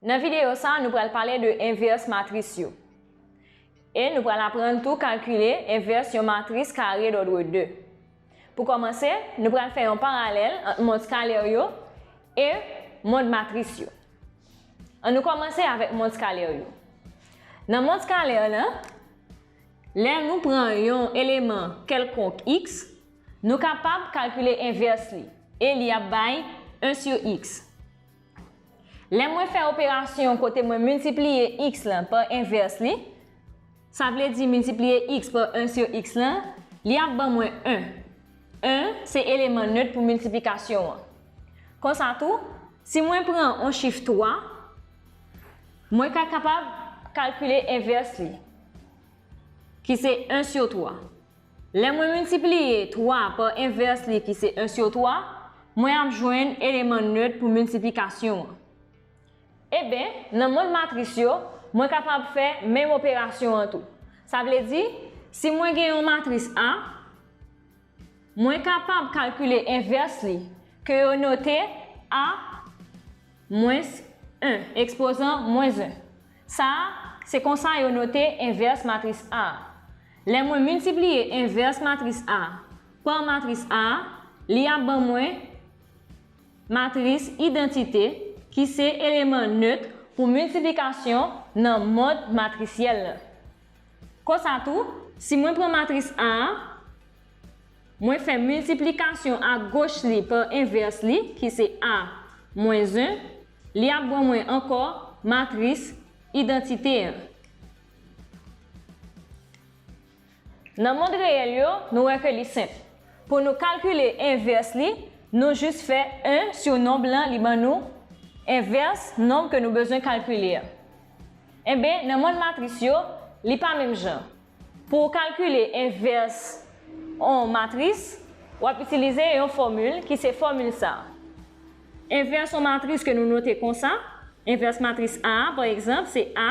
Nan videyo sa a nou pral pale de envès matris yo. E nou pral aprann tou kalkile envès yon matris kare dòdre 2. Pou kòmanse, nou pral fè yon paralèl ant mond skalè yo e mond matris yo. An nou kòmanse avèk mond skalè yo. Nan mond skalè la, lè nou pran yon eleman kèlkonk x, Nou kapab kalkile envès li, e li ap bay 1 sur x. Lè mwen fè operasyon kote mwen miltipliye x lan pa envès li, sa vle di miltipliye x pa 1 sur x lan, li ap ban mwen 1. 1 se eleman nöt pou miltiplikasyon an. Konsa tou, si mwen pran on chif 3, mwen ka kapab kalkile envès li, ki se 1 sur 3. Lè mwen miltipliye 3 pa envès li ki se 1 sur 3, mwen ap jwenn eleman nèt pou miltiplikasyon an. Eben, nan mond matris yo, mwen kapab fè menm operasyon an tou. Sa vle di, si mwen gen yon matris A, mwen kapab kalkile envès li, ke yo note A mwens 1, ekspozan mwens 1. Sa a, se konsa yo note envès matris A a. Lè mwen miltipliye envès matris A pa matris A, li ap ban mwen matris idantite ki se eleman nötr pou miltiplikasyon nan mòd matrisyèl lan. Konsa tou, si mwen pran matris A, mwen fè miltiplikasyon a goch li pa envès li ki se A mwens 1, li ap ban mwen ankò matris idantite an. Nan mond reyèl yo, nou wè ke li senp. Pou nou kalkile envès li, nou jis fè 1 sou nonb lan li ban nou envès nonb ke nou bezwen kalkile a. Enben, nan mond matris yo, li pa menm jan. Pou ou kalkile envès on matris, w ap itilize yon fòmil ki se fòmil sa. Envès on matris ke nou note konsa, envès matris A a, pa egzanp, se A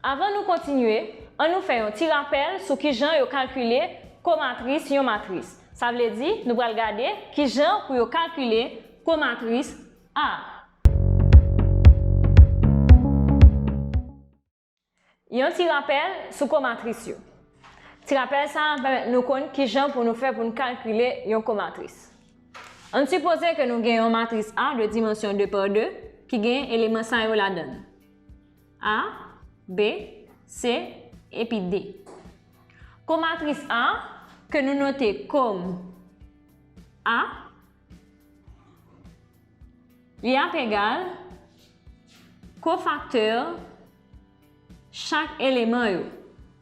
Avan nou kontinye, an nou fè yon ti rapèl sou kijan yo kalkile komatris yon matris. Sa vle di, nou pral gade kijan pou yo kalkile komatris A. Yon ti rapèl sou komatris yo. Ti rapèl sa a pèmèt nou konn kijan pou nou fè pou nou kalkile yon komatris. An n sipoze ke nou gen yon matris A de dimansyon 2 pa 2 ki gen eleman sa yo ladan l. A, B, C, epi D. Kon matris A, ke nou note kom A, li ap egal kofaktè chak eleman yo.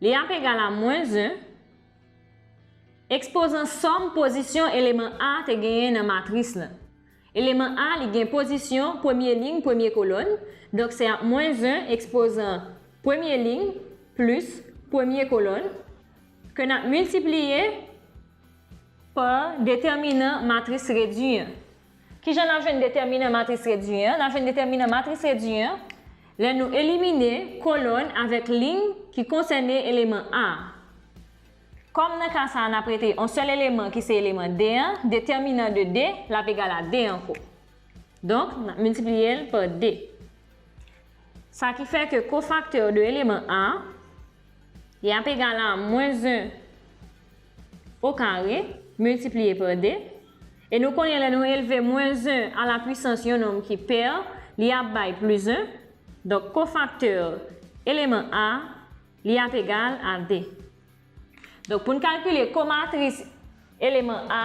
Li ap egal a mwens 1, Ekspozan sòm pozisyon eleman A te genyen nan matris lan. Eleman A li gen pozisyon premye liy premye kolòn, donk se ap mwens 1 ekspozan premye liy plis premye kolòn, ke n ap miltipliye pa detèminan matris redui an. Ki jan n ap jwenn detèminan matris redui an? N ap jwenn detèminan matris redui an lè nou elimine kolòn avèk liy ki konsène eleman A. Kòm nan ka sa a n ap rete yon sèl eleman ki se eleman D an, detèminan de D l ap egal a D ankò. Donk, n ap miltipliye l pa D. Sa ki fè ke kofaktè de eleman A. Y ap egal a mwens 1 o kare miltipliye pa 2. E nou konnen lè nou elve mwens 1 a la pwisans yon nonm ki pè, li ap bay plis 1. Donk kofaktè eleman A, li ap egal a 2. Donk pou n kalkile komatris eleman A.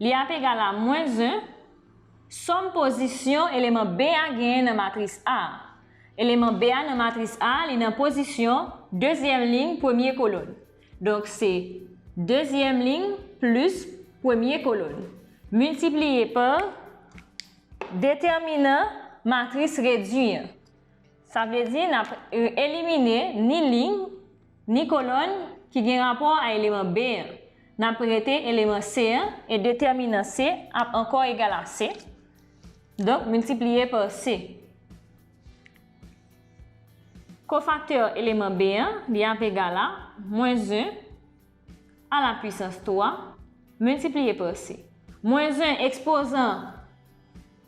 Li ap egal a mwens 1 sòm pozisyon eleman B a genyen nan matris A a. Eleman B a nan matris A a li nan pozisyon dezyèm liy premye kolonn. Donk se dezyèm liy plis premye kolonn miltipliye pa detèminan matris redui an. Sa vle di n ap elimine ni liy, ni kolòn ki gen rapò a eleman B an. N ap rete eleman C an e detèminan C ap ankò egal a C, donk miltipliye pa C. Kofaktè eleman B an, li ap egal a mwens 1 a la pwisans 3 miltipliye pa C. Mwens 1 ekspozan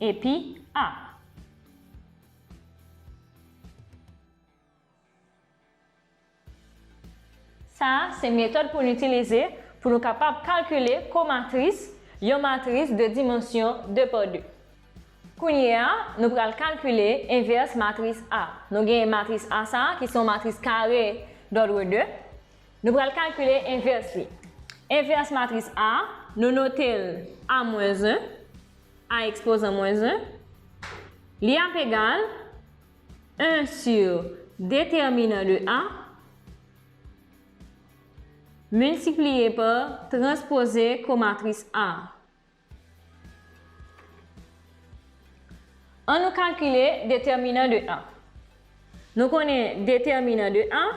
Epi, ah! Sa a se metòd pou n itilize pou nou kapab kalkile komatris yon matris de dimansyon 2 pa 2. Kounye a, nou pral kalkile envès matris A. Nou genyen matris A sa a ki se yon matris kare dòdre 2. Nou pral kalkile envès li. Envès matris A, nou note l A mwens 1, A ekspozan mwens 1, li ap egal 1 sur detèminan de A miltipliye pa transpoze komatris A. An nou kalkile detèminan de an. Nou konnen detèminan de an,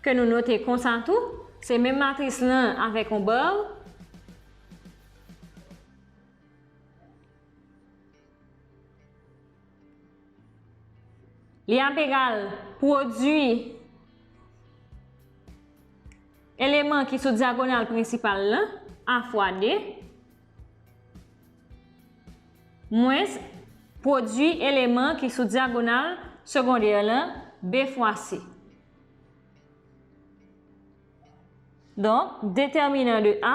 ke nou note konsa tou, se menm matris lan avèk yon bar. Li ap egal pwodui eleman ki sou dyagonal prensipal lan, a fwa 2, mwens pwodui eleman ki sou dyagonal segondè lan, b fwa c. Donk, detèminan de A.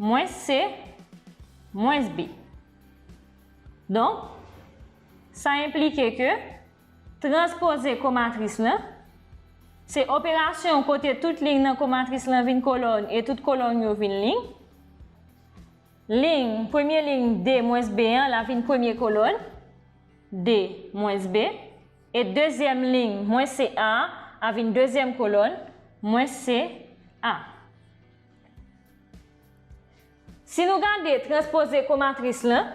Mwens se mwens b. Donk, sa enplike ke transpoze komatris lan se operasyon kote tout liy nan komatris lan vin kolòn e tout kolòn yo vin liy. Liy, premye liy d mwens b an la vin premye kolòn, d mwens b, e dezyèm liy mwens c a a vin dezyèm kolòn, mwens c a. Si nou gade transpoze komatris lan,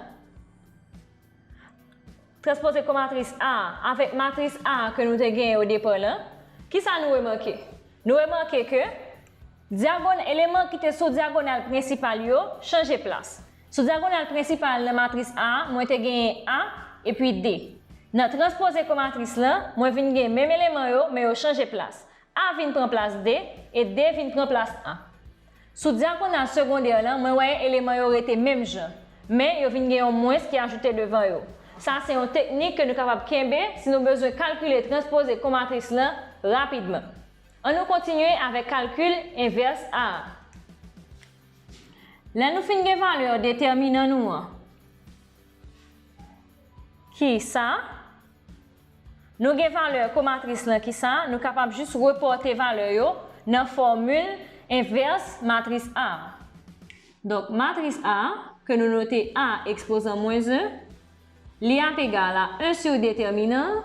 transpoze komatris A an avèk matris A an ke nou te genyen odepa lan, kisa nou remake? Nou remake ke dyagon, eleman ki te sou dyagonal prensipal yo chanje plas. Sou dyagonal prensipal nan matris A, mwen te genyen A epi D. Nan transpoze komatris lan, mwen vin gen menm eleman yo, men yo chanje plas. A vin pran plas D e D vin pran plas A. Sou dyagonal segondè lan, mwen wè eleman yo rete menm jan, men yo vin gen yon mwens ki ajoute devan yo. Sa se yon teknik ke nou kapab kenbe si nou bezwen kalkile transpoze komatris lan rapidman. An nou kontinye avèk kalkil envès A a. Lè nou fin gen valè detèminan nou an, ki sa, Nou gen valè komatris lan ki sa, nou kapab jis repòte valè yo nan fòmil envès matris A a. Donk matris A, ke nou note A ekspozan mwens 1, li ap egal a 1 sou detèminan,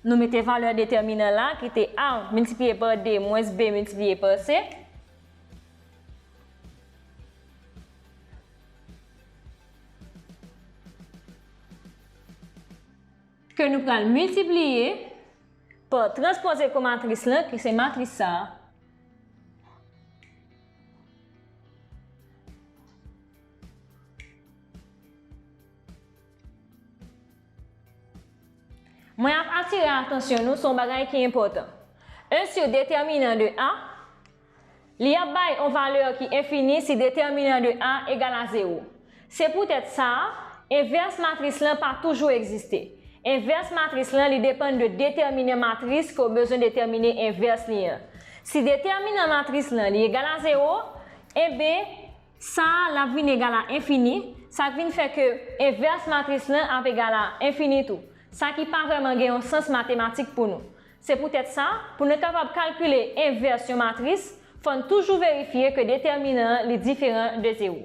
nou mete valè detèminan la ki te A miltipliye pa 2 mwens B miltipliye pa C, Ke nou pral miltipliye pa transpoze komatris lan ki se matris sa a. Mwen ap atire atansyon nou sou yon bagay ki enpòtan. 1 sou detèminan de A. Li ap bay on valè ki enfini si detèminan de A egal a zewo. Se poutèt sa, envès matris lan pa toujou egziste. Envès matris lan li depann de detèminan matris ke w bezwen detèmine envès li an. Si detèminan matris lan li egal a zewo, enben, sa l ap vin egal a enfini, sa k vin fè ke envès matris lan ap egal a enfini tou, sa ki pa vrèman gen on sans matematik pou nou. Se poutèt sa, pou nou kapab kalkile envès yon matris, fò n toujou verifye ke detèminan an li diferan de zewo.